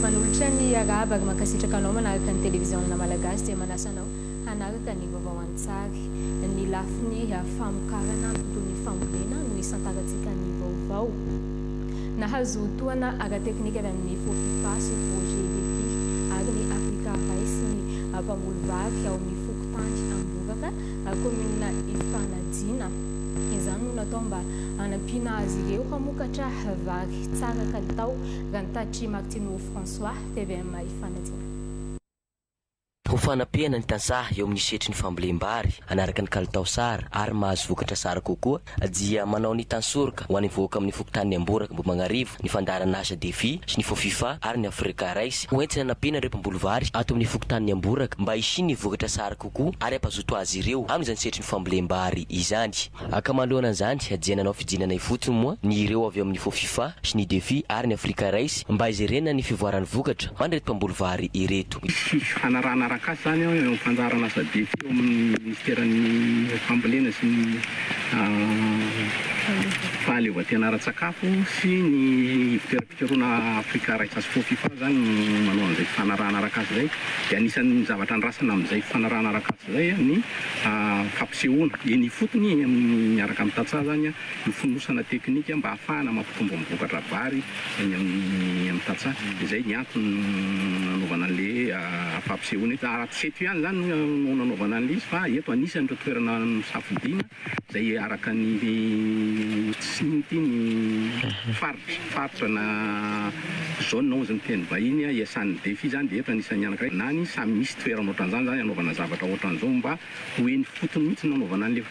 Manolotra ny arahaba ary mankasitraka anao manaraka ny televiziona malagasy dia manasa anao hanaraka ny vaovao an-tsary. Ny lafiny famokarana toy ny fambolena no hisantarantsika ny vaovao. Nahazo tohana ara-teknika avy amin'ny Fofifa sy Projet Defi ary ny Africa Rice ny mpamboly vary ao amin'ny fokontany Amboraka, kaominina Ifanajina. Izany no natao mba hanampiana azy ireo hamokatra vary. Tsara kalitao, raha ny taditr'i Martineau François, tvm Ifanajina. Ho fanapehana ny tantsaha eo amin'ny setrin'ny fambolem-bary anaraka ny kalitao sara ary mahazo vokatra sara kokoa dia manao ny Tansoroka ho an'ny vahoaka amin'ny fokontanin'i Amboraka Ambohimagnarivo ny fandaharan'asa Defi sy ny Fofifa ary ny Africa Rice ho entina anampiana ireo mpamboly vary ato amin'ny fokontanin'i Amboraka mba hisian'ny vokatra sara kokoa ary hampazoto azy ireo amin'izany setrin'ny fambolem-bary izany. Haka manoloana an'izany dia nanao fidinana ifotony moa ny ireo avy ao amin'ny Fofifa sy ny Defi ary ny Africa Rice mba hijerena ny fivoaran'ny vokatra ho an'ireto mpamboly vary ireto. Hisy fifanarahana arakasa izany eo amin'ny fanjaran' asa Defi eo amin'ny Minisiteran'ny Fambolena sy ny Fahaleovantena ara-tsakafo sy ny Ivon-toeram-piasana. Fironana Afrika Raikes Sport Fifa zany no manao an'izay fifanarahana arak'asa izay dia anisan'ny zavatra andrasana amin'izay fifanarahana arak'asa izay ny fampisehoana eny ifotony amin'ny miaraka amin'ny tantsaha zany ny fonosana teknika mba hahafahana mampitombo ny vokatra vary eny amin'ny tantsaha dia izay ny antony nanaovana an'ilay fampisehoana eto raha tsy eto ihany izany no nanaovana an'ilay izy fa eto anisan'ireo toerana nosafidiana izay araka ny tsiny ity ny faritra, faritra na zone hozy ny teny vahiny, iasan'ny defi izany dia eto anisan'ny anankiray na ny samy misy toerana ohatran'izany izany anaovana zavatra ohatran'izao mba ho eny fotony mihitsy no anaovana an'ilay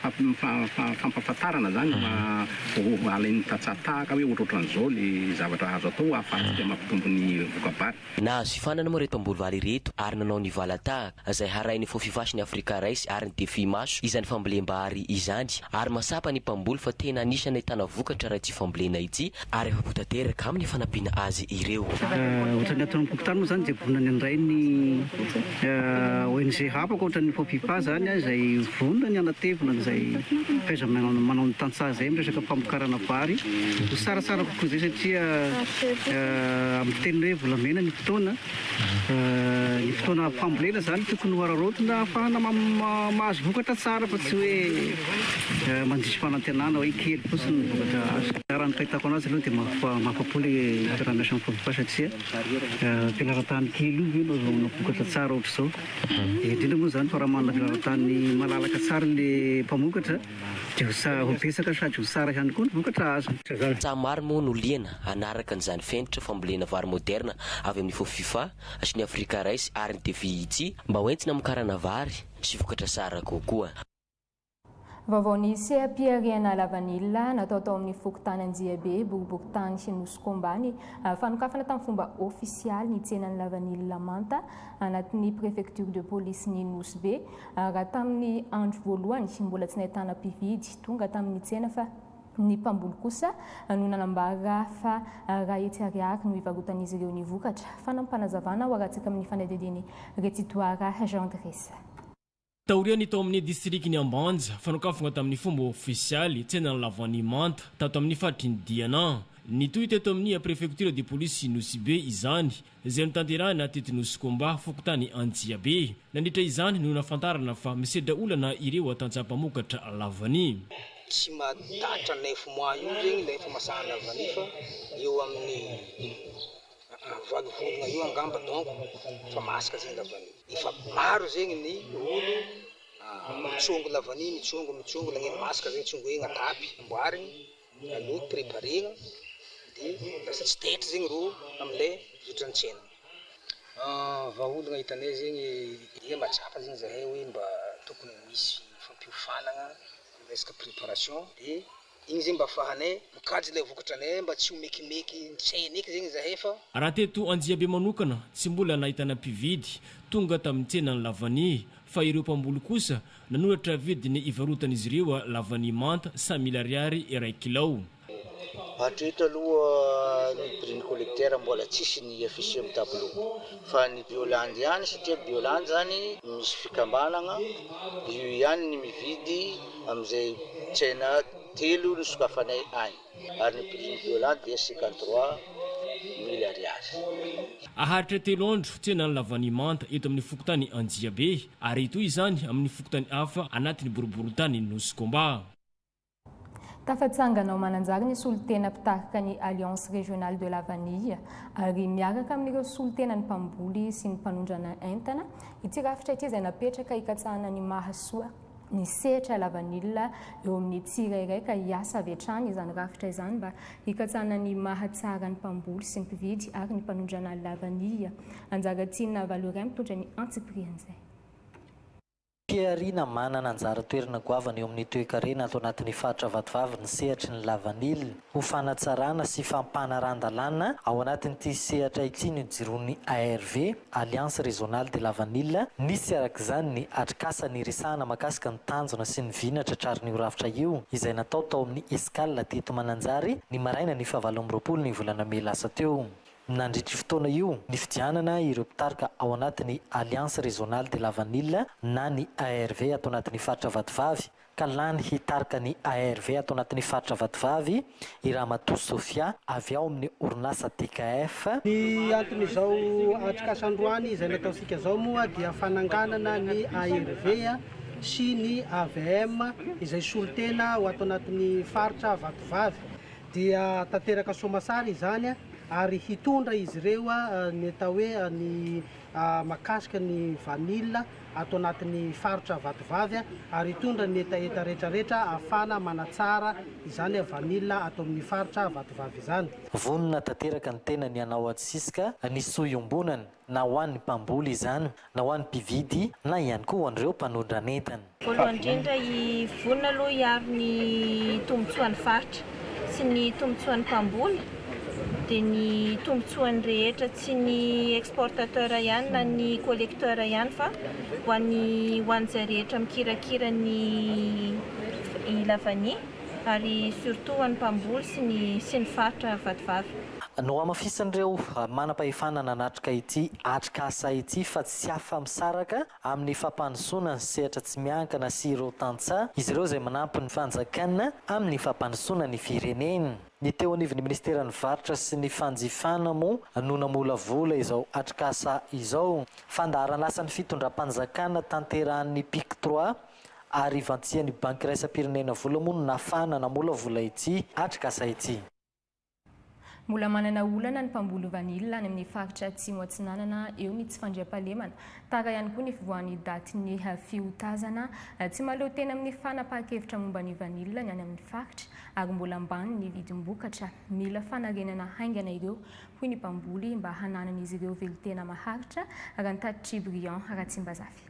fampahafantarana izany mba alain'ny tantsaha tahaka hoe ohatrohatran'izao ilay zavatra azo atao ahafahantsika mampitombo ny voka-bary. Nahazo fifanana moa ireto mpamboly-vary ireto ary nanao ny valan-tahaka, izay harahin'ny Fofifash ny Africa Rice ary ny Defi Maso izany fambolem-bary izany, ary mahatsapa ny mpamboly fa tena anisan'ny ahitana vokatra raha ity fambolena ity ary afa-po tanteraka amin'ny fanampiana azy ireo. Raha ohatran'ny ato amim-pokontany moa izany dia vonona ny handray ny. ONG hafa ankoatra ny Fofipa izany izay vonona ny hanatevina an'izay fahaiza-manao ny tantsaha izay amin'ny resaka famokarana vary ho tsaratsara kokoa izay satria amin'ny fiteny hoe volamena ny fotoana, ny fotoana fambolena izany tokony ho araraotina ahafahana mahazo vokatra tsara fa tsy hoe mandiso fanantenana hoe kely fotsiny ny vokatra azo. Raha ny fahitako an'azy aloha dia mahafa-po ilay mpiara-miasa amin'ny Fofipa satria Filaran-tany kely io ve no azahoana vokatra tsara ohatr'izao? Indrindra moa izany fa raha manana filaran-tany malalaka tsara ilay mpamokatra dia ho sa- ho betsaka sady ho tsara ihany koa ny vokatra azony. Tantsaha maro moa no liana hanaraka an'izany fenitra fambolena vary moderna avy amin'ny Fofifa sy ny Africa Rice ary ny TFIC mba hoentina hamokarana vary sy vokatra tsara kokoa. Vaovao ny seha-pihariana lavanila natao tao amin'ny fokontany Anjiabe, Boriborintany sy Nosiko Ambany. Fanokafana tamin'ny fomba ofisialy ny tsenan'ny lavanila manta anatin'ny Préfecture de Police-n'i Nosy Be. Raha tamin'ny andro voalohany, mbola tsy nahitana mpividy tonga tamin'ny tsena fa ny mpamboly kosa no nanambara fa raha hetsy ariary no hivarotan'izy ireo ny vokatra. Fanampim-panazavana hoarantsika amin'ny fanadihadian'i Retsitoara Jean Dressa. Taorian'ny tao amin'ny distrikan'i Ambanja, fanokafana tamin'ny fomba ofisialy tsenan'ny lavanilina manta tato amin'ny faritry ny Diana. Nitohy teto amin'ny prefektiora de polisy Nosibe izany, izay notanterahina teto Nosikomba, fokontany Anjiabe. Nandritra izany no nahafantarana fa misedra olana ireo tantsaha mpamokatra lavanilina. Tsy mahatatra neuf mois io zegny ilay famasahana vanille fa eo amin'ny. Aa valo volona eo angamba donc efa masaka zegny lavany efa maro zegny ny olo mitsongo lavany mitsongo mitsongo lagniny masaka zegny tsongoigny atapy amboarigny aloky preparegna de lasa tsy taitry zegny ro amle zotra antsena aa vahaolagna hitanay zegny ehe mahatsapa zegny zahay hoe mba tokony misy fampiofanagna am resaka preparation de Igny zegny mba afahanay mikajy le vokatra nay mba tsy ho mekimeky ntsena eky zegny zahay fa. Raha teto Anjiabe manokana tsy mbola nahitana mpividy tonga tamin'ny tsenan'ny lavanie fa ireo mpamboly kosa nanoratra vidiny ivarotan'izy ireo lavanie manta sa mily ariary iray kilao. Hatreto aloha ny prix ny collecteur mbola tsisy ny afficher amin'ny tableau fa ny biolandy ihany satria biolandy zany misy fikambanagna io ihany ny mividy Amin'izay tsena telo no sokafanay any ary ny prix ny violon dia cinquante trois mille ariary. Haharitra telo andro tsena ny lavanimanta eto amin'ny fokontany Anjiabe ary toy izany amin'ny fokontany hafa anatin'ny boriborintanin'i Nosy Komba. Tafatsangana ao Mananjary ny solontena mpitarika ny Alliance Régionale de la Vanille ary miaraka amin'ireo solontenan'ny mpamboly sy ny mpanondrana entana ity rafitra ity izay napetraka hikatsahana ny mahasoa ny sehatra lavanila eo amin'ny tsirairay ka hiasa avy hatrany izany rafitra izany mba hikatsahana ny maha tsara ny mpamboly sy ny mpividy ary ny mpanondrana lavanila. Anjaratiana Valoiray mitondra ny antsipirihan'izay. Pihariana manana anjara toerana goavana eo amin'ny toekarena ato anatin'ny faritra Vatovavy ny sehatry ny lavanila. ho fanatsarana sy fampanaran-dalàna ao anatin'ity sehatra ity ny nijiroan'ny ARV, Alliance Régionale de Lavanila, nisy arak'izany ny atrikasa niresahana makasika ny tanjona sy ny vy natratrarin'io rafitra io izay natao tao amin'ny Escale teto Mananjary ny marainan'ny fahavalo amby roapolo ny volana mey lasa teo. Nandritr'io fotoana io, nifidianana ireo mpitarika ao anatin'ny Alliance Régionale de Lavanila na ny ARV ato anatin'ny faritra Vatovavy, ka lany hitarika ny ARV ato anatin'ny faritra Vatovavy i Ramatoa Sofia avy ao amin'ny orinasa DKF. Ny anton'izao atrikasa androany izay nataontsika izao moa dia fananganana ny ARV sy ny avm izay solontena ho ato anatin'ny faritra Vatovavy. Dia tanteraka soamantsara izany ary hitondra izy ireo ny atao hoe ny mahakasika ny vanille. ato anatin'ny faritra Vatovavy ary hitondra ny hetaheta rehetrarehetra ahafahana manatsara izany vanila ato amin'ny faritra Vatovavy izany. Vonona tanteraka ny tenany hanao antsisika ny soa iombonana na ho an'ny mpamboly izany na ho an'ny mpividy na ihany koa ho an'ireo mpanondrana entana. Voalohany indrindra, vonona aloha hiaro ny tombontsoan'ny faritra sy ny tombotsoan'ny mpamboly dia ny tombotsoany rehetra tsy ny exportateur ihany na ny collecteur ihany fa ho an'ny ho an'izay rehetra mikirakira ny i la vanille ary surtout ho an'ny mpamboly sy ny sy ny faritra vatovavy. Nohamafisin'ireo manam-pahefana nanatrika ity atrikasa ity fa tsy afa-misaraka amin'ny fampandrosoana ny sehatra tsy miankina sy ireo tantsaha, izy ireo izay manampy ny fanjakana amin'ny fampandrosoana ny firenena. Ny teo anivon'ny minisiteran'ny varotra sy ny fanjifana moa no namolavola izao atrikasa izao. Fandaharanasan'ny fitondram-panjakana tanterahan'ny Pic Trois ary ivantsian'ny Banky Iraisam-pirenena vola moa no nafahana namolavola ity atrikasa ity. Mbola manana olana ny mpamboly vanila any amin'ny faritra Atsimo Atsinanana eo ny tsy fandriampahalemana. Tara ihany koa ny fivoahan'ny daty ny fiotazana. Tsy mahaleotena amin'ny fanapahan-kevitra momba ny vanila ny any amin'ny faritra ary mbola ambany ny vidim-bokatra. Mila fanarenana haingana ireo, hoy ny mpamboly, mba hananan'izy ireo velon-tena maharitra, raha ny tatitr'i Briand Ratsimbazafy.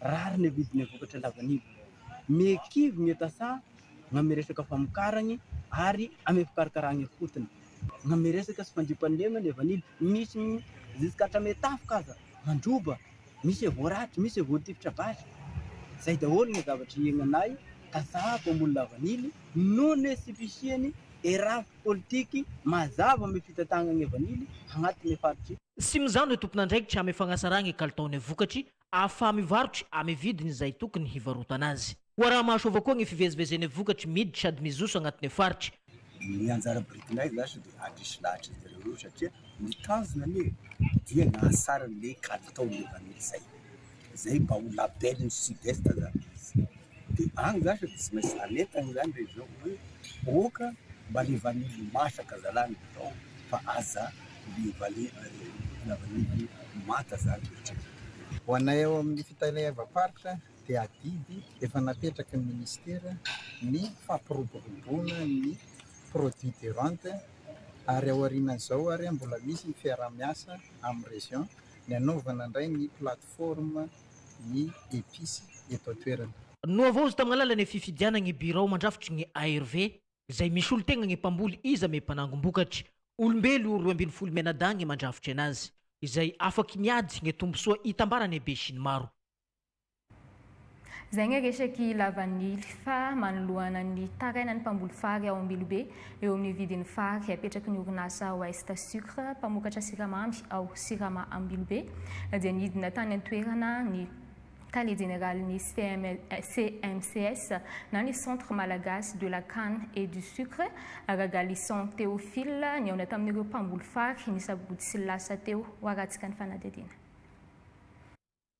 rariny ny vidiny ny vokatra lavanila. Miha kivy, miha tasaha na amin'ny resaka famokarany ary amin'ny fikarakarana ifotony. Na amin'ny resaka sy fandiom-panomena ny vanila, misy jusqu'à hatramin'ny tafika aza mandroba, misy efa voaraty, misy efa voatifitra basy. Izay daholo ny zavatra iainanay, tasaha mpamboly lavanila, noho ny hoe tsy fisian'ny eraf politique mazava amin'ny fitantanana ny vanila agnatin'ny faritry. Tsy mizano ny tompon'andraikitra amin'ny fagnasarana ny kalitaon'ny vokatry ahafaha mivarotra amy vidiny izay tokony hivarotana azy. Ho araha-mahasoava koa ny fivezivezen'ny vokatry miditra sady mizoso agnatin'ny faritra. Ny anjara birikinay lasa dia handresy lahatra izy ireo eo satria ny tanjona anie dia ny hahasarany ilay kalitaon'ilay vanille izay. Izay mba ho label-n'ny Sud-Est zany izy. Dia any zany sady tsy maintsy anentana izany rehefa izao hoe ok mba le vanily masaka zalah no atao fa aza le vali la vanille manta zany rehetra. Ho anay ao amin'ny fitaleavam-paritra dia adidy efa napetraky ny minisitera ny fampiroboroboana ny produits de vente ary aorianan'izao ary mbola misy ny fiaraha-miasa amin'ny region ny hanaovana indray ny plateforme ny episy eto an-toerana. Nohavaozy tamin'ny alalan'ny fifidianana ny birao mandrafitry ny ARV, izay misolo tegna ny mpamboly iza me mpanangom-bokatry. Olombelo roa ambin'ny folo mianadahy ny mandrafitry anazy, izay afaky miady ny tombosoa hitambaran'ny besinimaro. Izay ny resaky lavanily fa manoloana ny tarainan'ny mpamboly fary ao Ambilobe, Eo amin'ny vidin'ny fary apetraky ny orinasa Ouest Sucre mpamokatra siramamy ao Sirama Ambilobe dia nidina tany an-toerana ny Tale jeneralin'ny CMCS na ny Centre Malagasy de la Canne et du Sucre, Ragalisson Théophile, nihaona tamin'ireo mpamboly fary ny sabotsy lasa teo, hoarantsika ny fanadihadiana.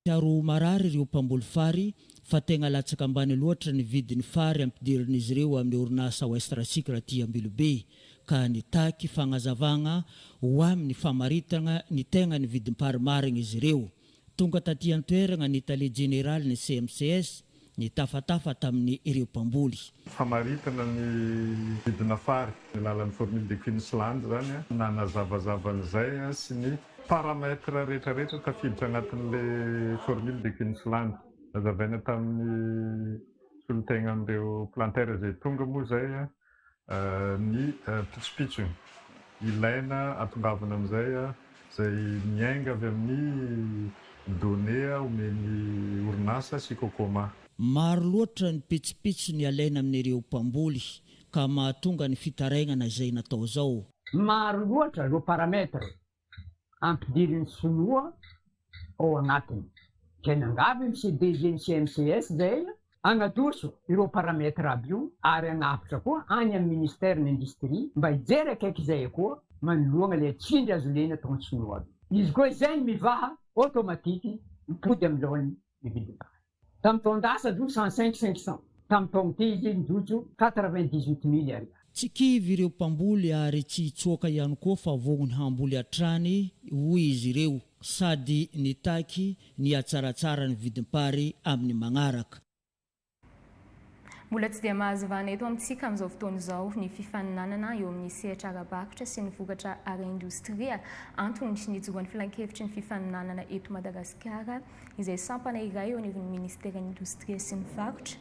Miharo ho marary ireo mpamboly fary fa tegna latsaka ambany loatra ny vidin'ny fary ampidirin'izy ireo amin'ny orinasa Westracycle aty Ambilobe ka nitaky fagnazavagna ho amin'ny famaritagna ny tegna ny vidim-pary marigny izy ireo. Tonga taty an-toeragna ny tale jeneralin'ny CMCS, nitafatafa tamin' ireo mpamboly. Famaritana ny vidina fary amin'ny alalan'ny Formule de Queensland izany nanazavazava an'izay sy ny paramètres rehetrarehetra tafiditra anatin'ilay Formule de Queensland. Nazavaina tamin'ny solontenan'ireo Planter izay tonga moa izay ny pitsopitso ilaina atongavana amin'izay izay miainga avy amin'ny données omen'ny orinasa sy Cocoma. Maro loatra ny pitsopitso ny alaina amin'ireo mpamboly ka mahatonga ny fitarainana izay natao izao. Maro loatra ireo paramètres ampidirin'ny sinoa ao anatiny. Zay nangavy ny CDG ny CNCS zay hanadoso ireo paramètres aby io ary hanavotra koa any amin'ny ministère ny industrie mba hijery akaiky zay koa manoloana le tsindry azo lena ataon'ny sinoa aby. Izy koa izay mivaha automatique mipody amin'ny laoniny ny vidin'entana. Tamin'ny taon-dasa, jour cent cinq cinq cents, tamin'ny taon-te izy ny jojo quatre-vingt-dix-huit mille ariary. Tsy kivy ireo mpamboly ary tsy hitsoaka ihany koa fa vognony hamboly hatrany, hoy izy ireo, sady nitaky ny hatsaratsara ny vidim-pary amin'ny magnaraka. Mbola tsy dia mahazo vahana eto amintsika amin'izao fotoana izao ny fifaninanana eo amin'ny sehatra ara-barotra sy ny vokatra ara-indostria. Antony nijoran'ny filankevitry ny fifaninanana eto Madagasikara, izay sampana iray eo anivon'ny minisiteran'ny Indostria sy ny varotra,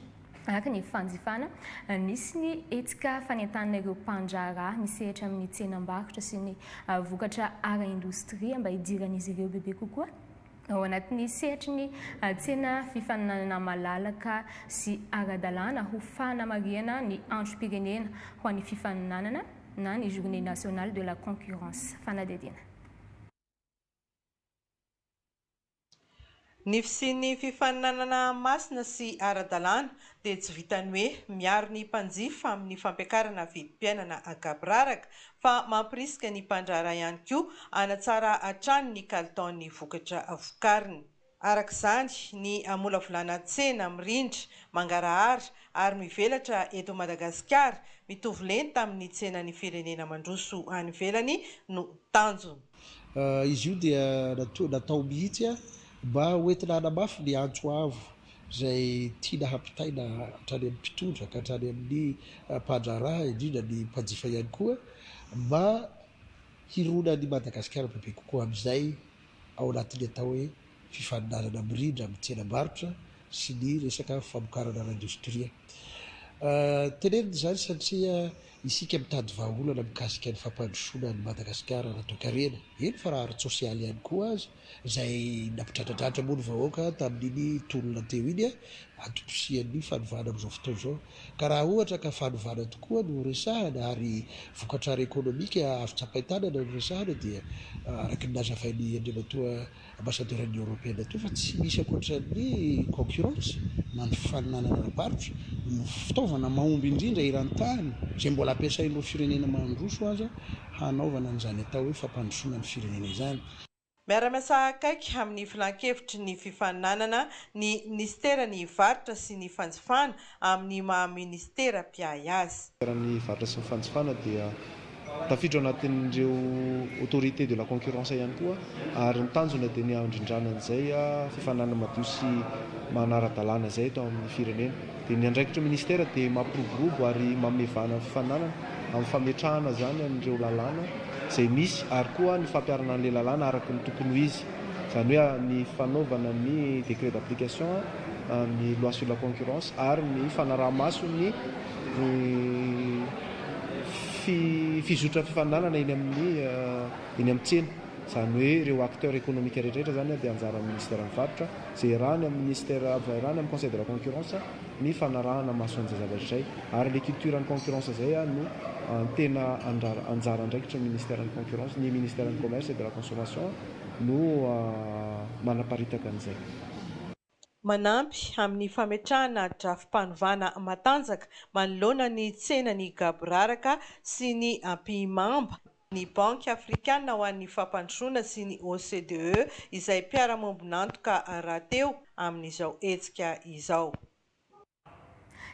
ary ny fanjifana nisy ny hetsika fanentanana ireo mpandraharaha misehatra amin'ny tsenam-barotra sy ny vokatra ara-indostria mba hidiran'izy ireo bebe kokoa. Ao anatin'ny sehatry ny tsena fifaninanana malalaka sy ara-dalàna ho fanamarihana ny androm-pirenena ho an'ny fifaninanana na ny Journée nationale de la concurrence, fanadihadiana. Ny fisian'ny fifaninanana masina sy ara-dalàna dia tsy vitan'ny hoe miaro ny mpanjifa amin'ny fampiakarana vidim-piainana an-kampiraraka fa mampirisika ny mpandraharaha ihany koa hanatsara hatrany ny kalitaon'ny vokatra vokariny. Araka izany, ny hamolavolana tsena mirindra, mangarahara ary mivelatra eto Madagasikara mitovy lenta amin'ny tsenan'ny firenena mandroso any ivelany no tanjona. Izy io dia natao mihitsy mba hoentina hanamafy ny antso avo izay tiana hampitaina hatrany amin'ny mpitondra ka hatrany amin'ny mpandraharaha, indrindra ny mpanjifa ihany koa, mba hirona an'i Madagasikara bebe kokoa amin'izay ao anatin'ny atao hoe fifaninanana mirindra amin'ny tsenam-barotra sy ny resaka famokarana ara-indostria. Tenenina izany satria isika mitady vahaolana mikasika ny fampandrosoana an'i Madagasikara ara-toekarena, eny fa raha ara-tsosialy ihany koa aza. izay nampidradradratra moa ny vahoaka tamin'iny tolona teo iny antom-posian'ny fanovana amin'izao fotoana izao. Ka raha ohatra ka fanovana tokoa no resahana ary vokatra ara-ekonomika azo tsapain-tanana no resahana dia araka ny nazavain'i Andriamatoa Ambassadeur'n'ny Eoropeana teo fa tsy misy ankoatran'ny concurrence na ny fifaninanana ara-barotra no fitaovana mahomby indrindra eran-tany izay mbola ampiasain'ireo firenena mandroso aza hanaovana an'izany atao hoe fampandrosoana ny firenena izany. Miara-miasa akaiky amin'ny Filan-kevitry ny Fifaninanana ny Minisiteran'ny Varotra sy ny Fanjifana amin'ny maha Minisitera mpiahy azy. Minisiteran'ny Varotra sy ny Fanjifana dia tafiditra ao anatin'ireo Autorité de la Concurrence ihany koa ary ny tanjona dia ny handrindrana an'izay fifaninanana madio sy manara-dalàna izay eto amin'ny firenena. dia ny andraikitry ny Ministera dia mampiroborobo ary manome vahana ny fifaninanana amin'ny fametrahana izany an'ireo lalàna izay misy ary koa ny fampiharana an'ilay lalàna araka ny tokony ho izy, izany hoe ny fanaovana ny décret d'application, ny loi sur la concurrence ary ny fanaraha-maso ny fizotran'ny fifaninanana eny amin'ny eny amin'ny tsena, izany hoe ireo acteurs économiques rehetra rehetra izany dia anjaran'ny Ministeran'ny Varotra. Jerà any amin'ny Ministère avy hairany amin'ny Conseil de la Concurrence ny fanarahana maso an'izay zavatra izay ary ilay culture-n'ny concurrence izay no tena anjara andraikitry ny Ministère-n'ny Concurrence, ny Ministère-n'ny Commerce et de la Consommation no manaparitaka an'izay. Manampy amin'ny fametrahana drafi-panovana matanjaka manoloana ny tsenan'ny gaboraraka sy ny ampihimamba ny Banky afrikana ho an'ny fampandrosoana sy ny OCDE izay mpiara-miombon'antoka rahateo amin'izao hetsika izao.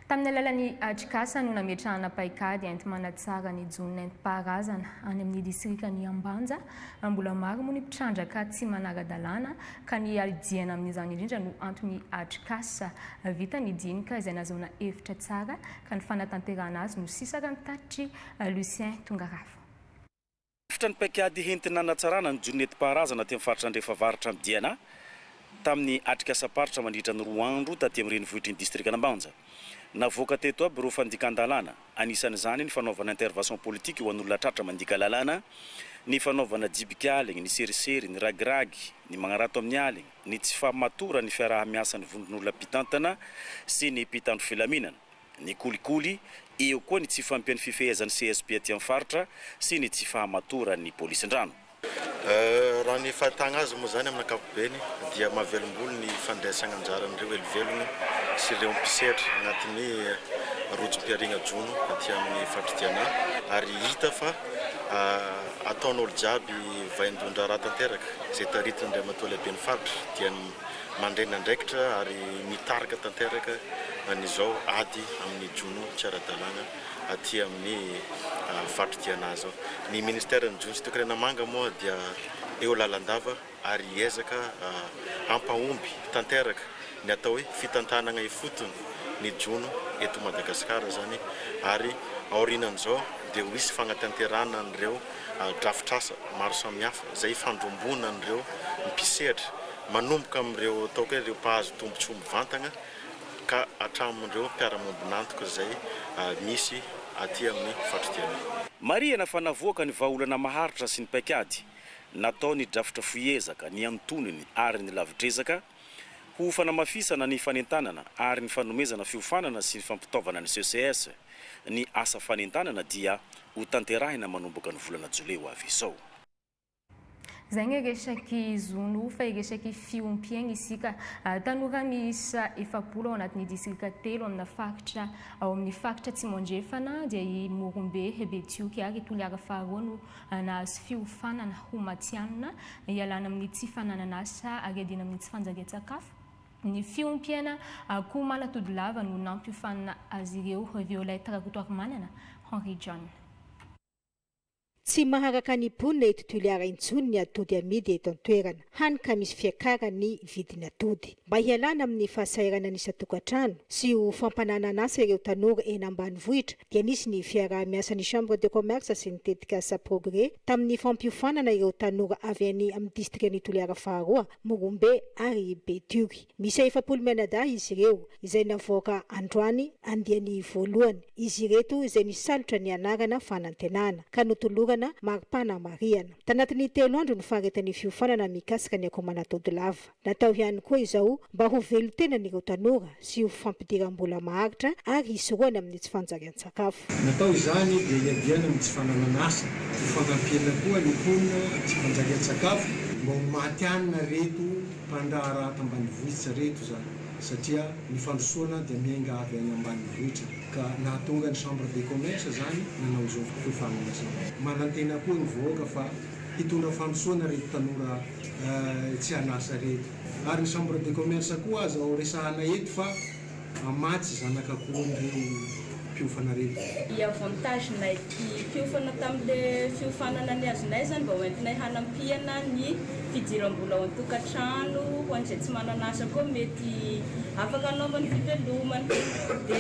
Tamin'ny alalan'ny atrikasa no nametrahana paikady enti-manatsara ny jono nentim-paharazana any amin'ny distrikan'i Ambanja. Mbola maro moa ny mpitrandraka tsy manara-dalàna ka ny hiadiana amin'izany indrindra no anton'ny atrikasa. Vita ny dinika izay nazahoana efitra tsara ka ny fanatanterahana azy no sisa raha ny tatitry Lucien Tongarafo. Rafitra ny paikady hentina hanatsarana ny jono nentim-paharazana aty amin'ny faritra Andrefavaratra ny DNA tamin'ny atrikasam-paritra mandritra ny roa andro taty amin'ny renivohitr'iny distrikan'Ambanja. Navoaka teto aby ireo fandikan-dalàna, anisan'izany ny fanaovana intervention politique ho an'olona tratra mandika lalàna, ny fanaovana jibika aligny, ny serisery, ny ragiragy, ny magnarato amin'ny aligny, ny tsy fahamatoran'ny fiaraha-miasan'ny vondron'olona mpitantana sy ny mpitandro filaminana. ny kolikoly, eo koa ny tsy fahampian'ny fifehezan'ny CSP aty amin'ny faritra sy ny tsy fahamatoran'ny polisin-drano. Raha ny fahitana azy moa izany amin'ny ankapobeny dia mahavelombolo ny fandraisana anjaran'ireo helivelona sy ireo mpisehatra anatin'ny rojom-pihariana jono aty amin'ny faritry Diana ary hita fa ataon'olo jiaby vaindohan-draharaha tanteraka izay taritin'ny Andriamatoa Lehiben'ny faritra dia ny mandray ny andraikitra ary mitarika tanteraka an'izao ady amin'ny jono tsy ara-dalàna aty amin'ny faritra Diana izao. Ny ministeran'ny jono sy toekarena manga moa dia eo lalandava ary hiezaka hampahomby tanteraka ny atao hoe fitantanana ifotony ny jono eto Madagasikara izany ary aorianan'izao dia ho hisy fanatanterahana an'ireo drafitr'asa maro samihafa izay ifandromboana an'ireo mpisehatra manomboka amin'ireo ataoko hoe ireo mpahazo tombontsoa mivantagna ka hatramin'ireo mpiara-miombon'antoka izay misy aty amin'ny fatrikena. Marihana fa navoaka ny vahaolana maharitra sy ny paikady natao ny drafitra fohy ezaka ny antonony ary ny lavidrezaka ho fanamafisana ny fanentanana ary ny fanomezana fiofanana sy fampitaovana ny CCS, ny asa fanentanana dia ho tanterahina manomboka ny volana jolay ho avy izao. Zay ny resaky zony ho fa resaky fiompiagna isika. Tanora miisa efapolo ao anatin'ny distrika telo amina faritra ao amin'ny faritra Atsimo Andrefana dia i Morombe, Betioky ary i Toliara faharoa no nahazo fiofanana ho matihanina hialana amin'ny tsy fananana asa ary hiadiana amin'ny tsy fanjarian-tsakafo. Ny fiompiana akoho manatody lava no nampiofanina azy ireo. Violette Rakotoarimanana, Henri John. Tsy maharaka ny mponina eto Toliara intsony ny atody amidy eto an-toerana, hany ka misy fiakaran'ny vidiny atody. Mba hialana amin'ny fahasahiranan'ny isan-tokantrano sy ho fampananan'asa ireo tanora eny ambanivohitra dia nisy ny fiaraha-miasan'ny Chambre de Commerce sy ny tetikasa Progrès tamin'ny fampiofanana ireo tanora avy any amin'ny Distrikan'i Toliara faharoa, Morombe ary Betioky. Miisa efapolo mianadahy izy ireo, izay navoaka androany andiany voalohany. Izy ireto izay nisalotra ny anarana fanantenana, ka notolorana maripana marihana. Tanatin'ny telo andro no faharetan'ny fiofanana mikasika ny akomanatody lava. Natao ihany koa izao mba ho velon-tenan'ireo tanora sy ho fampidiram-bola maharitra ary hisorohana amin'ny tsy fanjariam-pitondrana. an-tsakafo. Natao izany dia hiadiana amin'ny tsy fananan'asa. Ho fanampiana koa ny mponina tsy mpanjary an-tsakafo. Mba ho maty hanina reto mpandraharaha ato ambanivohitra reto izany satria ny fandrosoana dia miainga avy any ambanivohitra ka nahatonga ny chambre de commerce izany nanao izao fiofanana izao. Manantena koa ny vahoaka fa hitondra fandrosoana reto tanora tsy an'asa reto ary ny chambre de commerce koa aza ho resahana eto fa. Mamatsy zanaka akoho ireo mpiofana reny. I avantage nay ty fiofana tamin le fiofanana ny azonay zany mba ho entinay hanampiana ny fidirambola ao antokatrano ho anizay tsy manana asa koa mety afaka anaovany fivelomana de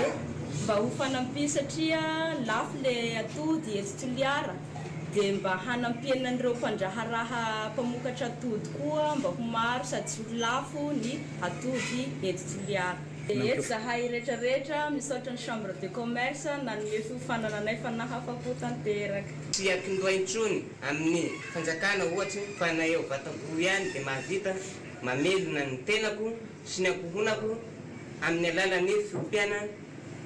mba ho fanampy satria lafo le atody etsy toliara de mba hanampiana an'ireo mpandraharaha mpamokatra atody koa mba ho maro sady tsy ho lafo ny Hatory eto Toliara. Dia eto zahay rehetra rehetra misaotra ny chambre de commerce nanome fiofanana anay fa nahafako tanteraka. Tsy atomboha intsony amin'ny fanjakana ohatry ny fa na eo Vataboho ihany dia mahavita mamelona ny tenako sy ny ankohonako amin'ny alalan'ny fiompiana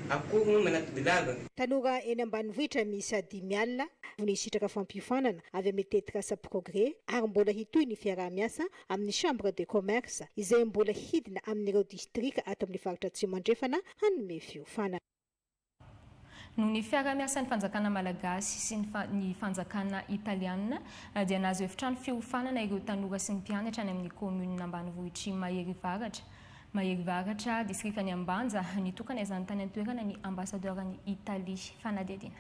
akoho manatodilava. Tanora eny ambanivohitra miisa dimy alina no hisitraka fampiofanana avy amin'ny tetikasa Progrès ary mbola hitohy ny fiaraha-miasa amin'ny Chambre de Commerce izay mbola hidina amin'ireo distrika ato amin'ny faritra Atsimo Andrefana hanome fiofanana. Noho ny fiaraha-miasan'ny fanjakana malagasy sy ny fanjakana italiana dia nahazo efitrano fiofanana ireo tanora sy ny mpianatra any amin'ny kaominina ambanivohitr'i Maherivaratra, Maherivaratra, distrikan'i Ambanja. Nitokana izany tany an-toerana ny Ambasadaoran'i Italie fanadihadiana.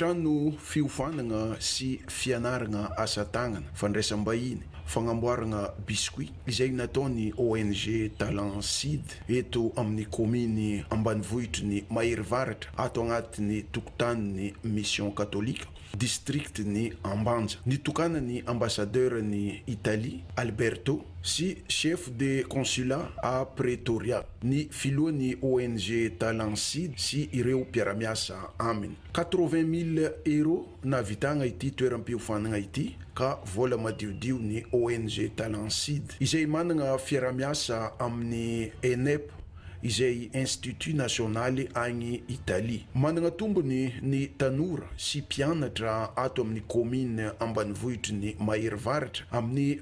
Efitrano fiofanagna sy fianaragna asa tagnana, fandraisam-bahiny, fagnamboaragna biscuit, izay nataon'ny ONG Talent Seed eto amin'ny kaominy ambanivohitry ny Mahery Varatra ato agnatin'ny tokotanin'ny Mission Katolika, distrikan'i Ambanja. Nitokanan'ny Ambasadaoran'i Italie, Alberto, sy Chef de Consulat à Pretoria. ny filohan'ny ONG Talent Seed sy ireo mpiara-miasa aminy. Quatre-vingt mille euros nahavitagna ity toeram-piofanagna ity ka vôla madiodio ny ONG Talent Seed izay managna fiaraha-miasa amin'ny ENEP izay Institut nasionaly agny Italie. Managna tombony ny tanora sy mpianatra ato amin'ny kaominy ambanivohitry ny Maherivaratra amin'ny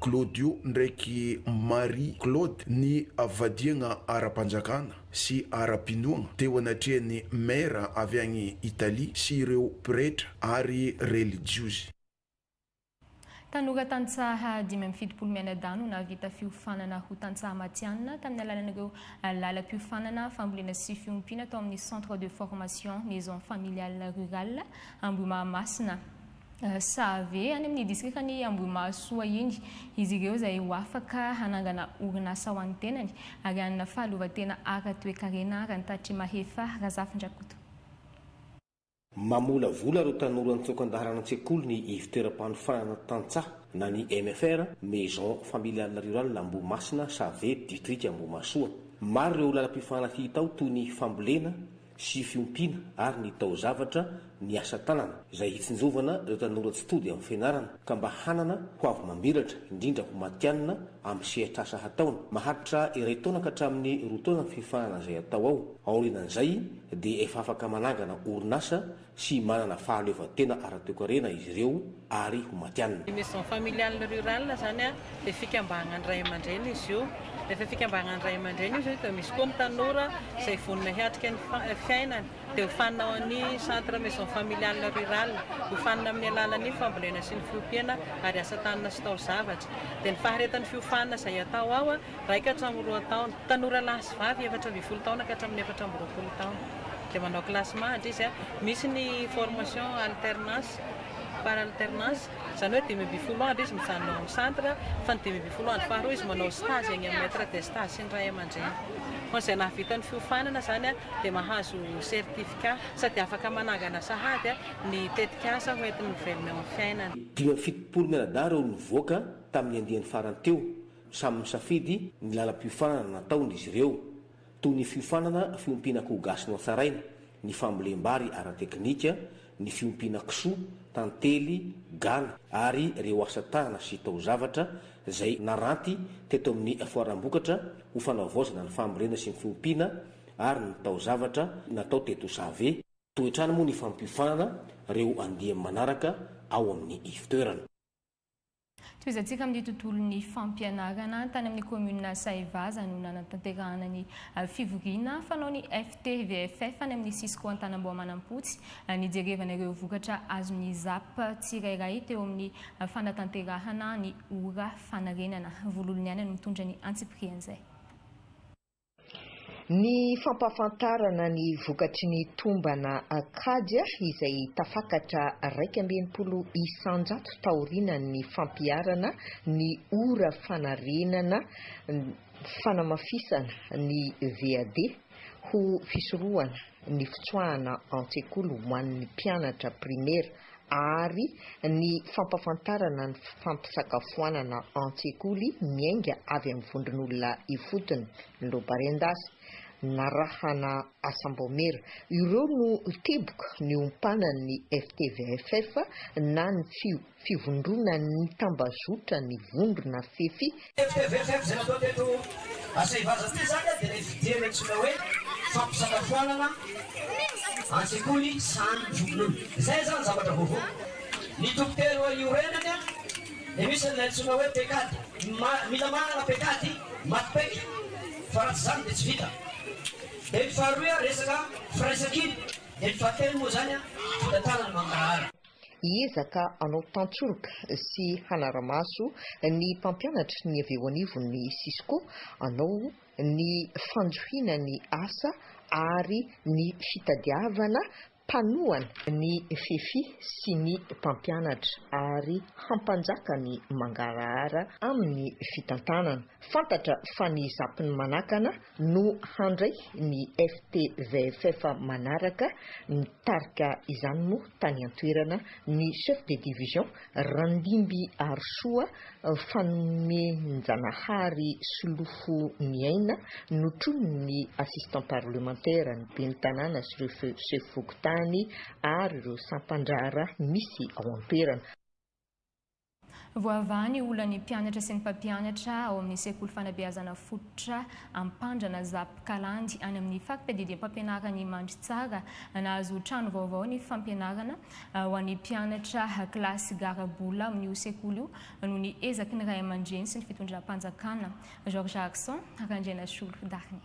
Claudio ndraiky Marie Claude ny vadiagna ara-panjakana sy ara-pinoagna teo anatrehan'ny Maire avy agny Italie sy ireo pretra ary relijiozy. Tanora tantsaha dimy amby fitopolo mianadahy no nahavita fiofanana ho tantsaha matihanina tamin'ny alalan'ireo lalam-piofanana fambolena sy fiompiana tao amin'ny Centre de formation Maison Familiale Rurale Ambohimahamasina. Save, any amin'ny disitrikan'i Ambohimahasoa iny, izy ireo izay ho afaka hanangana orinasa ho an'ny tenany ary hanana fahaleovantena ara-toekarena, Rantatry Mahefa Razafindrakoto. Mamolavola ireo tanora nitsoaka an-dalana an-tsekoly ny Ivontoeram-panofanana Tantsaha na ny MFR, Maison Familiale Rurale Ambohimasina, Save, Ditrika Ambohimahasoa. Maro ireo lalam-piofanana hita ao toy ny fambolena, sy fiompiana ary ny taozavatra ny asa tanana izay hitsinjovana ireo tanora tsy tody amin'ny fianarana ka mba hanana ho avy mamiratra indrindra ho matianina amin'ny sehatr'asa hataony. Maharitra iray taona ka hatramin'ny roa taona ny fiofanana izay atao ao. Aorianan'izay dia efa afaka manangana orinasa sy manana fahaleovantena ara-toekarena izy ireo ary ho matianina. Ny Maison Familiale Rurale izany dia fikambanan dRay aman-dreny izy io. Rehefa fikambanan dRay aman-dreny izy io dia misy koa ny tanora izay vonona hiatrika ny fiainany dia hofanina ao amin'ny Centre Maison Familiale Rurale. Hofanina amin'ny alalan'ny fambolena sy ny fiompiana ary asa tanana sy taozavatra. Dia ny faharetan'ny fiofanana izay atao ao Iray ka hatramin'ny roa taona. Tanora lahy sy vavy efatra ambin'ny folo taona ka hatramin'ny efatra amby roapolo taona. Dia manao classement hatry izy. Misy ny formation alternance, par alternance. Izany hoe dimy ambin'ny folo andro izy mijanona ao amin'ny centre, fa ny dimy ambin'ny folo andro faharoa izy manao stage any amin'ny maitre de stage sy ny ray aman-dreny. Fa izay nahavita ny fiofanana izany dia mahazo certificat sady afaka manangana sahady ny tetikasa hoentiny mivelona eo amin'ny fiainany. Dimy amby fitopolo mianadahy ireo nivoaka tamin'ny andiany farany teo Samy misafidy ny lalam-piofanana nataony izy ireo, toy ny fiofanana fiompiana akoho gasy nohatsaraina, ny fambolem-bary ara-teknika, ny fiompiana kisoa, tantely, gana ary ireo asa tanana sy taozavatra izay naranty teto amin'ny foaram-bokatra ho fanavaozana ny fambolena sy ny fiompiana ary ny taozavatra natao teto Save. Toe-trano moa ny fampiofanana ireo andiany manaraka ao amin'ny ivotoerana. Tohizantsika amin'ny tontolon'ny fampianarana. Tany amin'ny kaominina Sahivaza no nanatanterahana ny fivoriana fanaon'ny FTVFF any amin'ny Cisco Antanamboamanampotsy nijerevana ireo vokatra azon'ny ZAP tsirairay teo amin'ny fanatanterahana ny ora fanarenana. Vololoniaina no mitondra ny antsipirihan'izay. Ny fampahafantarana ny vokatry ny tombana kajy izay tafakatra iraika amby enimpolo isanjato taorianan'ny fampiharana ny ora fanarenana fanamafisana ny VAD ho fisorohana ny fitsoahana an-tsekoly ho an'ny mpianatra primaire ary ny fampafantarana ny fampisakafoanana an-tsekoly miainga avy amin'ny vondron'olona ifotony, Lobarendas, narahana asam-baomiera. Ireo no teboka niompanan'ny FTVFF na ny fivondronan'ny tambazotran'ny vondrona fefy Tvfm izay natao teto Asaivaza teo izany dia ilay fidiana antsoina hoe fampisakafoanana an-tsekoly sahan'ny zokin'olona. Izay izany zavatra vaovao. Ny toko telo eo iorenany dia misy an'ilay antsoina hoe pekady. Mila manana pekady maty paika fa raha tsy izany dia tsy vita. Dia ny faharoa resaka firaisankina. Dia ny fahatelo moa izany vola tanana mangarahara. Hiezaka hanao tantsoroka sy hanara-maso ny mpampianatry ny avy eo anivon' ny Cisco hanao ny fanjohiana ny asa ary ny fitadiavana mpanohana ny fefy sy ny mpampianatra ary hampanjaka ny mangarahara amin' ny fitantanana. Fantatra fa ny zapin' ny manakana no handray ny FTVFF manaraka, nitarika izany moa tany an-toerana ny Chef de Division Randimby Harisoa Fanomenjanahary Solofoniaina, notronin'ny Assistant Parlementaire ny Ben'ny Tanàna sy ireo Chef Fokontany ary ireo sampan-draharaha misy ao an-toerana. Voavaha ny olan'ny mpianatra sy ny mpampianatra ao amin'ny sekoly fanabeazana fototra Ampandrana Zap Kalandy any amin'ny fampitadidiam-pampianaran'i Mandritsara. Nahazo trano vaovao ny fampianarana ho an'ny mpianatra kilasy garabola amin'io sekoly io noho ny ezaky ny ray aman-dreny sy ny fitondram-panjakana. Georges Harison Randrianasolo Darnie.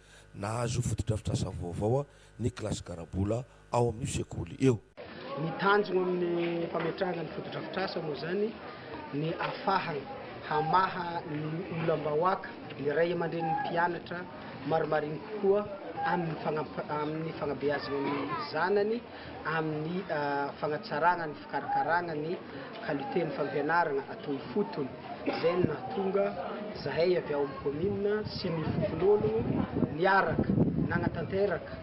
Nahazo fotodrafitrasa vaovao ny kilasy Garabola ao amin'io sekoly io. Ny tanjona amin'ny fametrahana ny fotodrafitrasa moa izany ny afahana hamaha ny olam-bahoaka ny ray aman-drenin'ny mpianatra marimariny kokoa amin'ny fanabeazana ny zanany. amin'ny fanatsarana ny fikarakarana ny qualité ny fampianarana ato ifotony, izay no nahatonga zahay avy ao amin'ny commune sy ny fokonolono niaraka nanatanteraka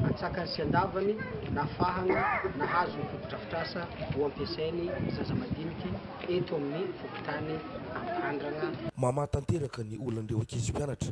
antsakany sy andavany nahafahana nahazo ny fotodrafitrasa ho ampiasain'ny zaza madiniky eto amin'ny fokontany Ampandrana. Mamaha tanteraka ny olan'ireo ankizy mpianatra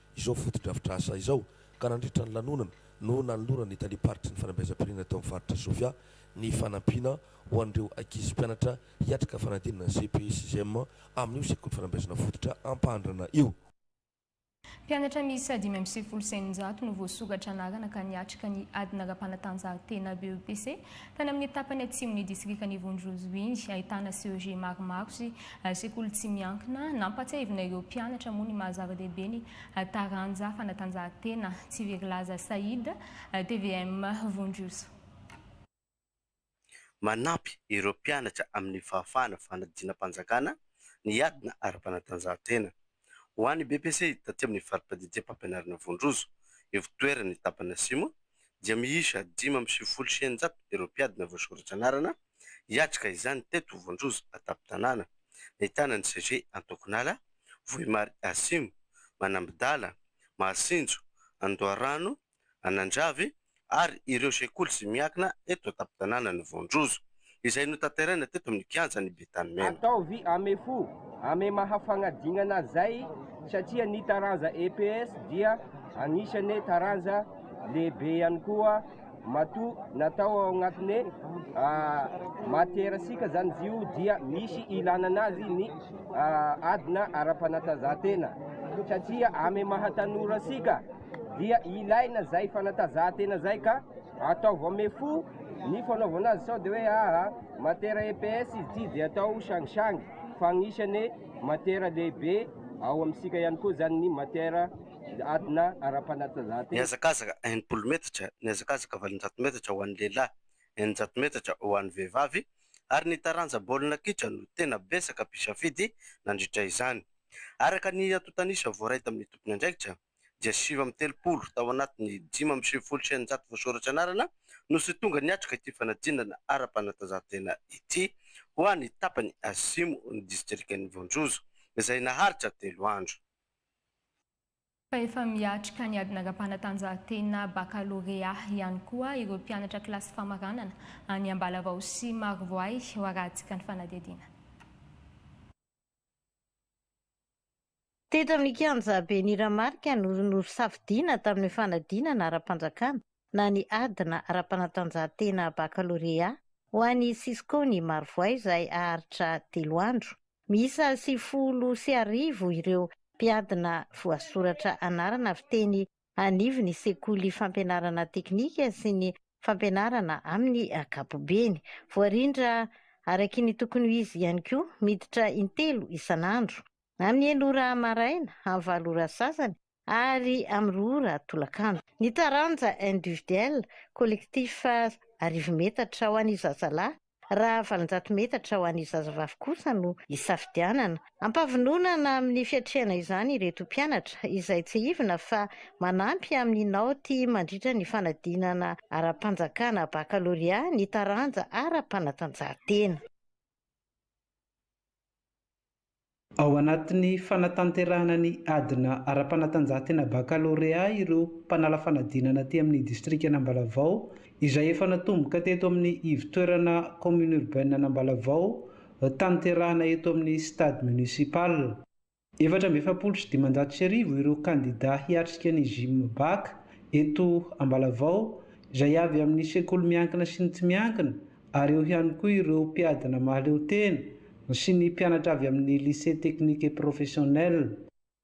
izao fotodrafitrasa izao ka nandritra ny lanonana no nanoloran'ny Talem-paritry ny Fanabeazam-pirenena teo amin'ny Faritra Sofia ny fanampiana ho an'ireo ankizy mpianatra hiatrika fanadinana ny CEPE sy CEM amin'io Sekoly Fanabeazana Fototra Ampahandrana io. Mpianatra miisa dimy amby sivifolo sy eninjato no voasokatra anarana ka niatrika ny adina ara-panatanjahantena BEPC Tany amin'ny tapany atsimon'ny distrikan'i Ivonjozwe, ahitana CEG maromaro sy sekoly tsy miankina, nampahatsiahivina ireo mpianatra moa ny maha-zava-dehibe ny taranja fanatanjahantena tsy very laza Said, tvm Vonjozo. Manampy ireo mpianatra amin'ny fahafahana fanadinam-panjakana ny adina ara-panatanjahantena. Ho an'ny BEPC, taty amin'ny fari-piadidiam-pampianarana Vondrozo, Ivotoerany, tapany Asimo, dia miisa dimy amby sivifolo sy eninjato ireo mpiadina voasoratra anarana hiatrika izany teto Vondrozo an-tampon-tanàna, nahitana ny CG Antokonala, Vohimary Asimo, Manambidala, Mahasinjo, Andoharano, Anandravy ary ireo sekoly izay miankina eto an-tampon-tanànan'i Voanjozo, izay notanteraina teto amin'ny kianjan'i Betanimena. Ataovy ame fo ame maha fagnadinana zay satria ny taranja EPS dia agnisane taranja lehibe ihany koa matoa natao ao agnatine matiera sika zany zio dia misy ilana anazy ny adina ara-panatanjahantena satria ame maha tanora sika dia ilaina zay fanatazahantena zay ka ataovo ame fo ny fanaovana azy sao de hoe aa matera EPS izy ty de atao sangisangy fa agnisane matera lehibe ao amsika ihany koa zany ny matera adina arapanatazahantena. Nihazakazaka enimpolo metatra, nihazakazaka valonjato metatra ho an'ny lehilahy, eninjato metatra ho an'ny vehivavy ary ny taranja baolina kitra no tena betsaka mpisafidy nandritra izany. Araka ny antontanisa voaray tamin'ny tompon'andraikitra, dia sivy amby telopolo tao anatin'ny dimy amby sivifolo sy eninjato voasoratra anarana no tsy tonga niatrika ity fanadinana ara-panatanjahantena ity ho an'ny tapany atsimo ny distrikan'i Voanjozo izay naharitra telo andro. Fa efa miatrika ny adina ara-panatanjahantena bakalorea ihany koa ireo mpianatra kilasy famaranana any Ambalavao sy Marovoay, hoarahantsika ny fanadihadiana. Teto amin'ny kianjabe Niramarika no nosafidiana tamin'ny fanadinana ara-panjakana na ny ady na ara-panatanjahantena bakalorea ho an'i Cisco ny Marovoay izay haharitra telo andro. Miisa sivifolo sy arivo ireo mpiadina voasoratra anarana fiteny anivo ny sekoly fampianarana teknika sy ny fampianarana amin'ny ankapobeny. Voarindra araky ny tokony ho izy ihany koa, miditra intelo isan'andro, amin'ny enina ora maraina, amin'ny valo ora sasany ary amin'ny roa ora tolakandro. Ny taranja individuel, collectif, arivo metatra ho an'ny zazalahy Raha valonjato metatra ho an'ny zazavavy kosa no isafidianana. Ampavinonana amin'ny fiatrehana izany ireto mpianatra, izay tsiahivina fa manampy amin'ny naoty mandritra ny fanadinana ara-panjakana bakalorea ny taranja ara-panatanjahantena. Ao anatin'ny fanatanterahana ny adina ara-panatanjahantena bakalorea ireo mpanala fanadinana aty amin'ny distrikan'Ambalavao, izay efa natomboka teto amin'ny ivotoerana Commune Urbaine an'Ambalavao, hotanterahina eto amin'ny Stade Municipal. Efatra amby efapolo sy dimanjato sy arivo ireo kandida hiatrika ny Gimbac eto Ambalavao, izay avy amin'ny sekoly miankina sy ny tsy miankina, ary eo ihany koa ireo mpiadina mahaleo tena sy ny mpianatra avy amin'ny Lycée Technique et Professionnel.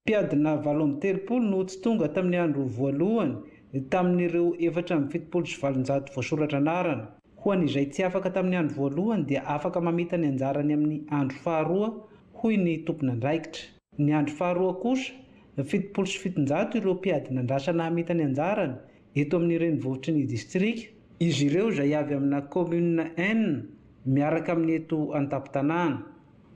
Mpiadina valo amby telopolo no tsy tonga tamin'ny andro voalohany tamin'ireo efatra amby fitopolo sy valonjato voasoratra anarana. Ho an'izay tsy afaka tamin'ny andro voalohany dia afaka mamita ny anjarany amin'ny andro faharoa, hoy ny tompon'andraikitra. Ny andro faharoa kosa, fitopolo sy fitonjato ireo mpiadina andrasana hamita ny anjarany, eto amin'ny renivohitry ny distrika, izy ireo izay avy amina kaominina enina miaraka amin'ny eto an-tampon-tanàna.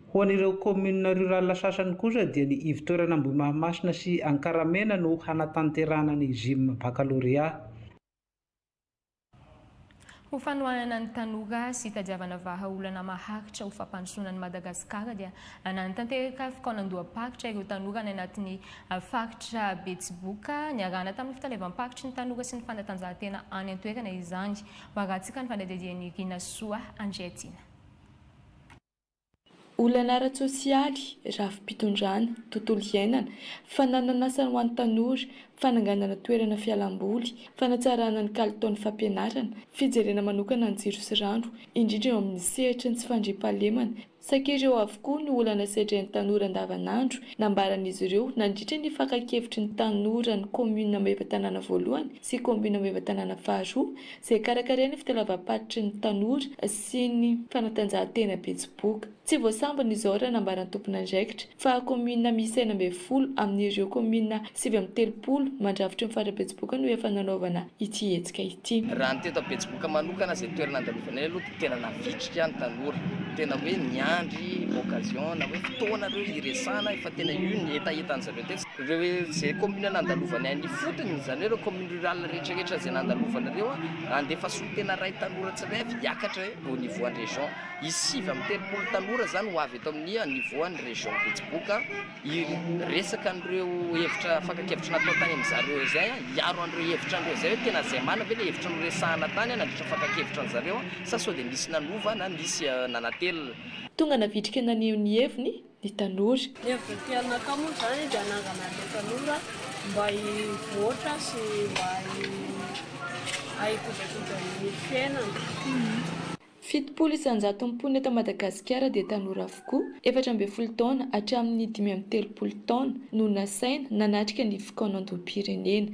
Ho an'ireo kaominina rurales sasany kosa dia ny ivotoerana Ambohimahamasina sy Ankaramena no hanatanterahana ny Gym Baccalauréat. Ho fanohanana ny tanora sy hitadiavana vahaolana maharitra ho fampandrosoana an'i Madagasikara dia nanatanteraka fikaonandoham-paritra ireo tanora any anatin'ny faritra Betsiboka niarahana tamin'ny fitalevam-paritry ny tanora sy ny fanatanjahantena any an-toerana izany. Maratsika ny fanadihadian'i Rinasoa Andriatiana. Olana ara-tsosialy, rafi-pitondrana, tontolo iainana, fananan'asa ho an'ny tanora, fananganana toerana fialamboly, fanatsarana ny kalitaon'ny fampianarana, fijerena manokana ny jiro sy rano, indrindra eo amin'ny sehatry ny tsy fandriampahalemana, saika ireo avokoa no olana sedrain'ny tanora andavanandro, nambaran'izy ireo nandritra ny fakan-kevitry ny tanoran'ny kaominina Maevatanàna voalohany, sy Kaominina Maevatanàna faharoa, izay karakarain'ny fitalavam-paritry ny tanora sy ny fanatanjahantena Betsiboka. Tsy voasambony izao raha nambara ny tomponandraikitra, fa kaominina miisa enina ambin'ny folo amin'ireo kaominina sivy amby telopolo mandrafitry ny faritra Betsiboka no efa nanaovana ity hetsika ity. Raha ny teto Betsiboka manokana izay toerana andalovanay aloha dia. Tena navitrika ny tanora, tena hoe niandry occasion na hoe fotoana reo hiresana fa tena io ny hetaheta an'i zareo tetsy. Reo ze commune nandalovany any ifotony, zany hoe reo commune rurale rehetra rehetra ze nandalovany reo handefa solontena ray tanora tsirairay avy hiakatra hoe au niveau an'i region. Hisy sivy amby telopolo tanora zany ho avy eto amin'ny niveau an'i region betsiboka. Hiresaka an'ireo hevitra fakan-kevitra natao tany amin'izay ireo izay aho, hiaro an'ireo hevitra an'ireo izay aho, tena izay marina ve ilay hevitra noresahana tany aho nandritra ny fakan-kevitra an'zareo sa sao dia misy nanova na misy nanatelina. Tonga navitrika naneho ny heviny ny tanora. Ny heviny tiany natao moa izany dia hanangana an'ireo tanora mba hivoatra sy mba hikojakoja ny fiainana. Fitopolo isan-jaton'ny mponina eto Madagasikara dia tanora avokoa, efatra ambin'ny folo taona hatramin'ny dimy amby telopolo taona, no nasaina nanatrika ny fikaonandoham-pirenena,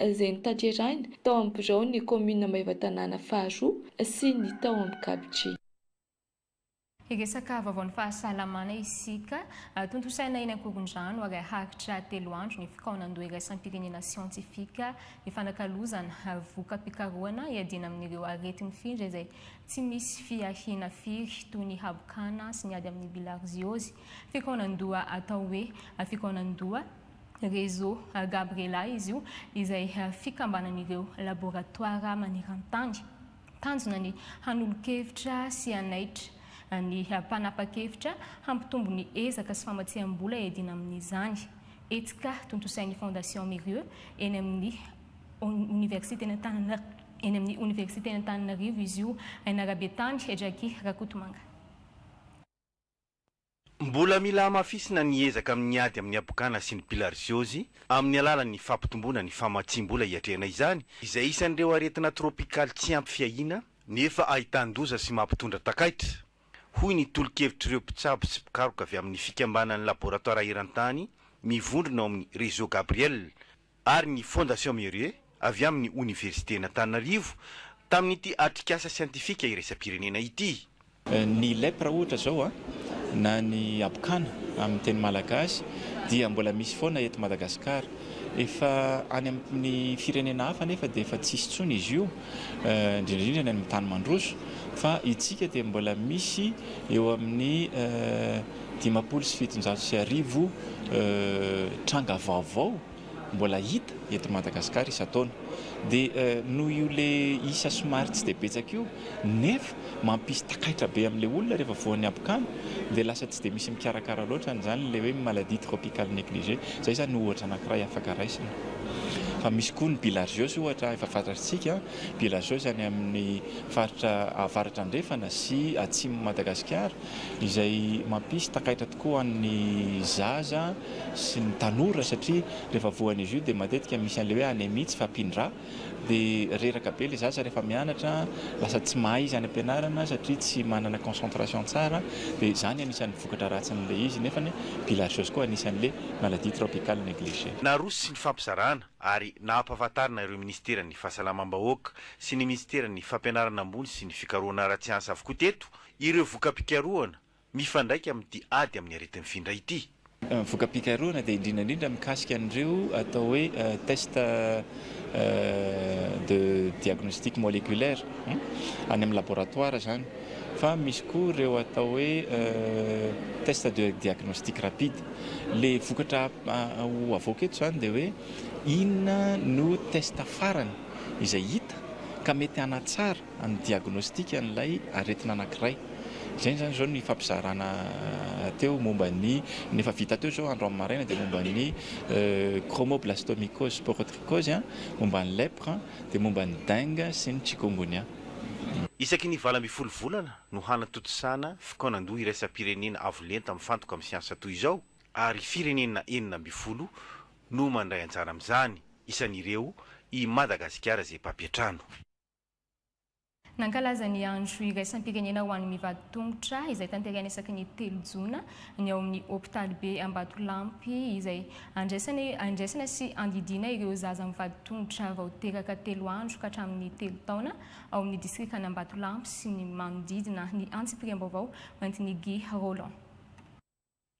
izay notanterahina tao amin'ny biraon'ny kaominina Maevatanàna faharoa sy ny tao amin'ny Gabidri. Hiresaka vaovaon'ny fahasalamana isika. Tontosaina eny Ankorondrano ary haharitra telo andro ny fikaonandoha iraisam-pirenena siantifika hifanakalozana ary voka-pikarohana hiadiana amin'ireo areti-mifindra izay tsy misy fiahiana firy toy ny habokana sy ny ady amin'ny bilarziozy, fikaonan-doha atao hoe fikaonan-doha Réseau Gabriela izy io, izay fikambanan'ireo laboratoara maneran-tany. Tanjona ny hanolo-kevitra sy hanaitra ny mpanapa-kevitra hampitombo ny ezaka sy famatsiam-bola iadiana amin'izany. Hetsika tontosain'ny Fondation Mirieux eny amin'ny Oniversiten'Antananarivo izy io, Ainarabetany, Jacky Rakotomanga. Mbola mila hamafisina ny ezaka amin'ny ady amin'ny habokana sy ny bilarziozy amin'ny alalan'ny fampitomboana ny famatsiam-bola hiatrehana izany, izay isan'ireo aretina tropikaly tsy ampy fiahiana nefa ahitan-doza sy mampitondra takaitra, hoy ny tolo-kevitr'ireo mpitsabo sy mpikaroka avy amin'ny fikambanan'ny laboratoara eran-tany mivondrona ao amin'ny Réseau Gabriel, ary ny Fondation Merieux avy amin'ny Oniversiten'Antananarivo tamin'ity atrikasa siantifika iraisam-pirenena ity. Ny lep raha ohatra izao na ny habokana amin'ny teny malagasy dia mbola misy foana eto Madagasikara. Efa any amin'ny firenena hafa anefa dia efa tsisy intsony izy io. indrindra indrindra ny amin'ny tany mandroso fa itsika dia mbola misy eo amin'ny dimampolo sy fitonjato sy arivo tranga vaovao mbola hita eto Madagasikara isan-taona dia noho io le isa somary tsy dia betsaka io nefa mampisy takaitra be amin'ilay olona rehefa voan'ny habokana dia lasa tsy dia misy mikarakara loatra an'izany, ilay hoe maladie tropicale negligée. Izay izany no ohatra anankiray afaka raisina. Fa misy koa ny bilharziose ohatra, efa fantatrtsika, bilharziose any amin'ny faritra avaratra andrefana sy atsimon'i Madagasikara, izay mampisy takaitra tokoa ho an'ny zaza sy ny tanora satria rehefa voan'izy io dia matetika misy an'ilay hoe anémie, tsy fahampian-dra, dia reraka be ilay zaza rehefa mianatra, lasa tsy mahay izy any am-pianarana satria tsy manana concentration tsara, dia izany anisan'ny vokatra ratsin'ilay izy, nefa ny bilharziose koa anisan'ilay maladie tropicale negligée. Naroso sy nifampizarana ary nahampahafantarina ireo Minisiteran'ny Fahasalamam-bahoaka sy ny Minisiteran'ny Fampianarana ambony sy ny Fikarohana ara-tsiansa avokoa teto ireo voka-pikarohana Mifandraika amin'ity ady amin'ny aretin'ny findra ity. Voka-pikarohana dia indrindra indrindra mikasika an'ireo atao hoe test de diagnostic moleculaire, any amin'ny laboratoara izany, fa misy koa ireo atao hoe test de diagnostic rapide. Ilay vokatra ho avoaka eto izany dia hoe inona no test farany izay hita ka mety hanatsara ny diagnostika an'ilay aretina anankiray. Izay izany izao no ifampizarana teo momba ny, ny efa vita teo izao andro amin'ny maraina dia momba ny chromoblastomycose sporotricose, momba ny lèpre, dia momba ny dengue sy ny chikungunya. Isaky ny valo ambin'ny folo volana no hanatontosana fikaonandoha iraisam-pirenena avo lenta mifantoka amin'ny siansa toy izao ary firenena enina ambin'ny folo no mandray anjara amin'izany, isan'ireo i Madagasikara izay mpampiantrano. Nankalaza ny andro iraisam-pirenena ho an'ny mivady tongotra, izay tanterahina isaky ny telo jona, ny ao amin'ny hopitalibe Ambatolampy, izay andraisana sy andidiana ireo zaza mivady tongotra vao teraka telo andro ka hatramin'ny telo taona, ao amin'ny distrikan'Ambatolampy sy ny manodidina, ny antsipiriam-baovao hoentin'i Guy Rolland.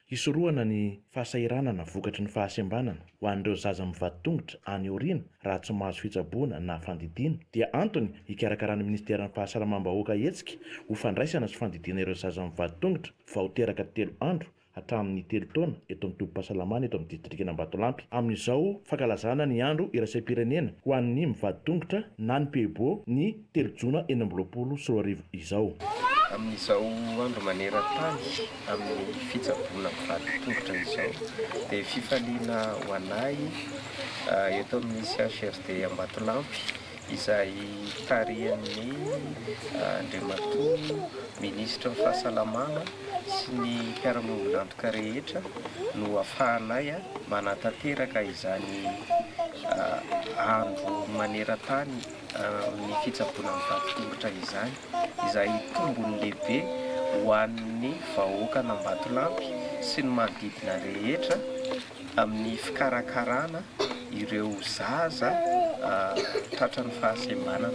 Hisorohana ny fahasahiranana vokatry ny fahasembanana ho an'ireo zaza mivady tongotra any aoriana raha tsy mahazo fitsaboana na fandidiana dia antony hikarakaran'ny Minisiteran'ny Fahasalamam-bahoaka hetsika ho fandraisana sy fandidiana ireo zaza mivady tongotra vao teraka telo andro hatramin'ny telo taona eto amin'ny tobim-pahasalamana eto amin'ny Distrikan'Ambatolampy amin'izao fankalazana ny andro iraisam-pirenena ho an'ny mivady tongotra na ny Peebo ny telo jona enina amby roapolo sy roa arivo izao. Amin'izao andro maneran-tany amin'ny fitsaboana mpivady tongotra izao dia fifaliana ho anay eto amin'ny CHRD Ambatolampy izay tarihan'ny Andriamatoa Minisitry ny Fahasalamana sy ny mpiara-miombon'antoka rehetra no afahanay manatanteraka izany andro maneran-tany amin'ny fitsaboana mitaky tongotra izany, izay tombony lehibe ho an'ny vahoakan'Ambatolampy sy ny manodidina rehetra amin'ny fikarakarana ireo zaza tratran'ny fahasembanana.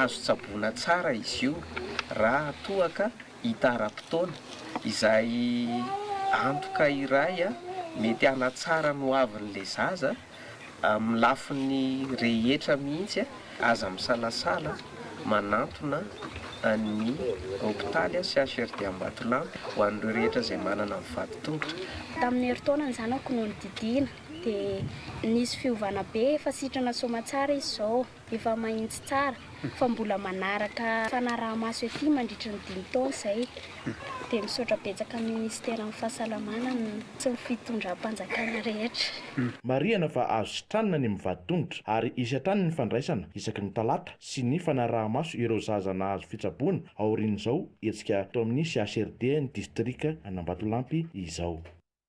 Azo tsaboina tsara izy io raha toa ka hita ara-potoana, izay antoka iray mety hanatsara ny hoavin'ilay zaza. Amin'ny lafiny rehetra mihitsy aza misalasala manantona ny hopitaly CHRD Ambatolampy ho an'ireo rehetra izay manana ny vadi-tongotra. Tamin'ny herintaona ny zanako no nididiana dia nisy fiovana be efa sitrana soamatsara izy izao. Efa mahitsy tsara fa mbola manaraka fanarahamaso ety mandritry ny dimy taona izay. Dia misaotra betsaka ny Minisiteran'ny Fahasalamana ny sy ny fitondram-panjakana rehetra. Marihana fa azo sitranina ny mivady tongotra ary hisy hatrany ny fandraisana isaky ny talata sy ny fanarahamaso ireo zaza nahazo fitsaboana aorian'izao hetsika tao amin'ny CHRD ny distrika an'Ambatolampy izao.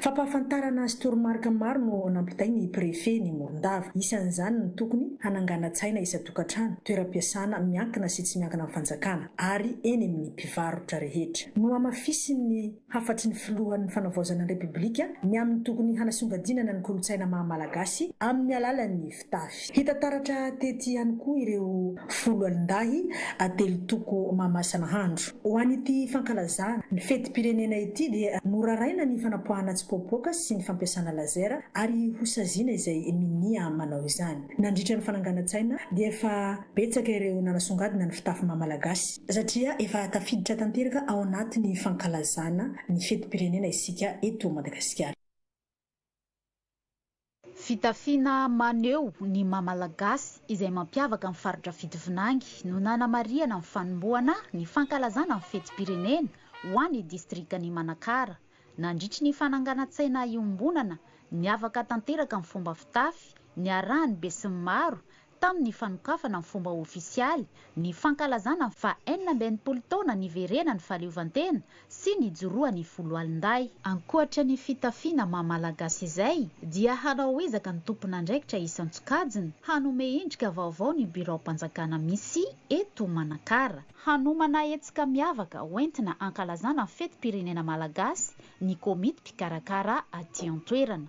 Fampahafantarana sy toromarika maro no ao anampitay ny Prefe ny Morondava. Isan'izany ny tokony hananganan-tsaina isan-tokantrano, toeram-piasana miankina sy tsy miankina amin'ny fanjakana, ary eny amin'ny mpivarotra rehetra. Nohamafisin'ny hafatry ny filohan'ny Fanavaozana ny Repoblika ny amin'ny tokony hanasongadinana ny kolontsaina maha-malagasy amin'ny alalan'ny. mpitafy. Hita taratra tety ihany koa ireo folo alin-dahy atelo toko Mamasa-nahandro. Ho an'ity fankalazana ny fetim-pirenena ity dia noraraina ny fanapoahana tsipoapoaka sy ny fampiasana laser ary hosaziana izay minia manao izany. Nandritra ny fananganan-tsaina dia efa betsaka ireo nanasongadina ny fitafy maha Malagasy. Satria efa tafiditra tanteraka ao anatin'ny fankalazana ny fetim-pirenena isika eto Madagasikara. Fitafiana maneho ny maha Malagasy izay mampiavaka ny faritra fito vinangy no nanamarihana ny fanombohana ny fankalazana ny fetim-pirenena ho an'ny distrikan'i Manakara. Nandritry ny fananganan-tsaina iombonana, niavaka tanteraka ny fomba fitafy niarahan'ny besinimaro tamin'ny fanokafana ny fomba ofisialy ny fankalazana ny faha enina amby enimpolo taona niverenan'ny fahaleovantena sy nijoroan'ny foloalindahy. Ankoatra ny fitafiana maha Malagasy izay dia hanao ezaka ny tompon'andraikitra isan-tsokajiny hanome endrika vaovao ny biraom-panjakana misy eto Manakara. Hanomana hetsika miavaka ho entina hankalazana ny fetim-pirenena malagasy ny komity mpikarakara aty an-toerana.